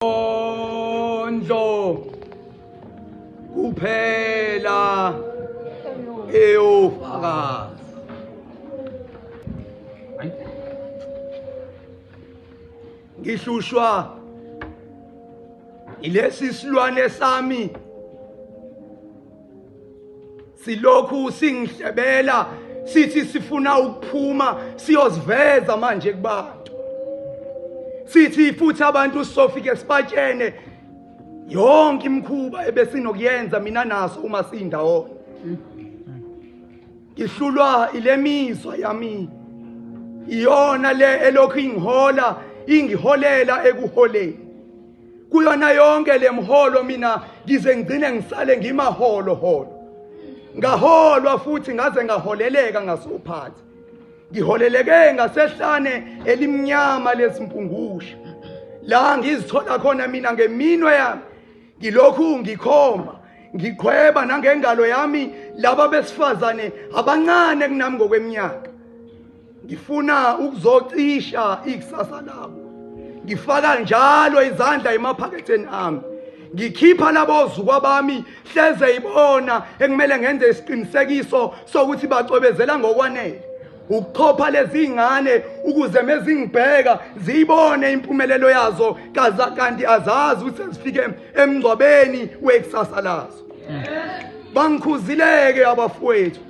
Ondlo kuphela eyofakaza. Ngihlushwa ilesi silwane sami silokhu singihlebela sithi sifuna ukuphuma siyoziveza manje kubantu sithi futhi abantu sofike sibatshene yonke imkhuba ebesinokuyenza mina naso uma sindawona ngihlulwa ilemizwa yami iyona le elokhu ingihola ingiholela ekuholeni kuyona yonke le mholo mina ngize ngigcine ngisale ngimaholo holo ngaholwa futhi ngaze ngaholeleka ngasophathi ngiholeleke ngasehlane elimnyama lesimpungusha la ngizithola khona mina ngeminwe yami ngilokhu ngikhomba ngiqhweba nangengalo yami laba besifazane abancane kunami ngokweminyaka ngifuna ukuzocisha ikusasa labo ngifaka njalo izandla emaphaketheni ami ngikhipha labo zukwa bami hleze ibona ekumele ngenze isiqinisekiso sokuthi bacwebezela ngokwanele ukuchopha lezi ngane ukuze mezingibheka ziyibone impumelelo yazo kaza kanti azazi ukuthi sezifike emngcwabeni wekusasa lazo bangikhuzileke abafowethu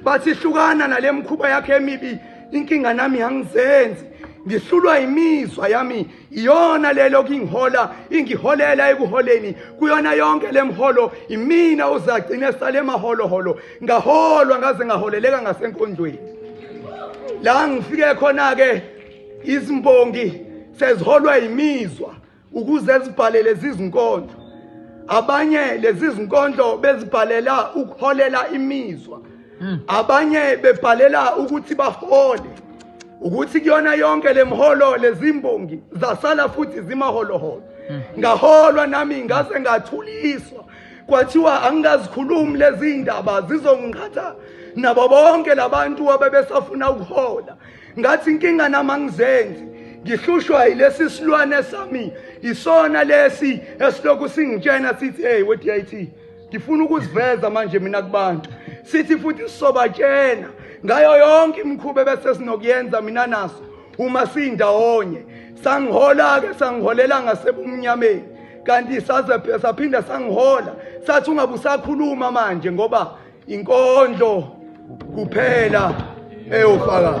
bathi hlukana nale mkhuba yakhe emibi inkinga nami angizenzi ngihlulwa imizwa yami iyona lelo kingihola ingiholela ekuholeni kuyona yonke lemholo imina uzagcine sale maholo holo ngaholwa ngaze ngaholeleka ngasenkonjweni la ngifike khona ke izimbongi seziholwa imizwa ukuze zibhalele zizinkondlo abanye lezi zinkondlo bezibhalela ukuholela imizwa hmm. abanye bebhalela ukuthi bahole ukuthi kuyona yonke lemholo lezimbongi zasala futhi zimaholoholo hmm. ngaholwa nami ngase ngathuliswa kwathiwa angingazikhulumi lezi ndaba zizongiqhatha nabo bonke labantu abebesafuna ukuhola ngathi inkinga nami angizenzi ngihlushwa yilesi silwane sami isona lesi esilokhu singitshena sithi hey we DIT ngifuna ukuziveza manje mina kubantu sithi futhi sisobatshena ngayo yonke imikhuba bese sinokuyenza mina naso uma sindawonye sangihola ke sangiholela ngasebumnyameni kanti saze saphinda sangihola sathi ungabe usakhuluma manje ngoba inkondlo kuphela eyofakazi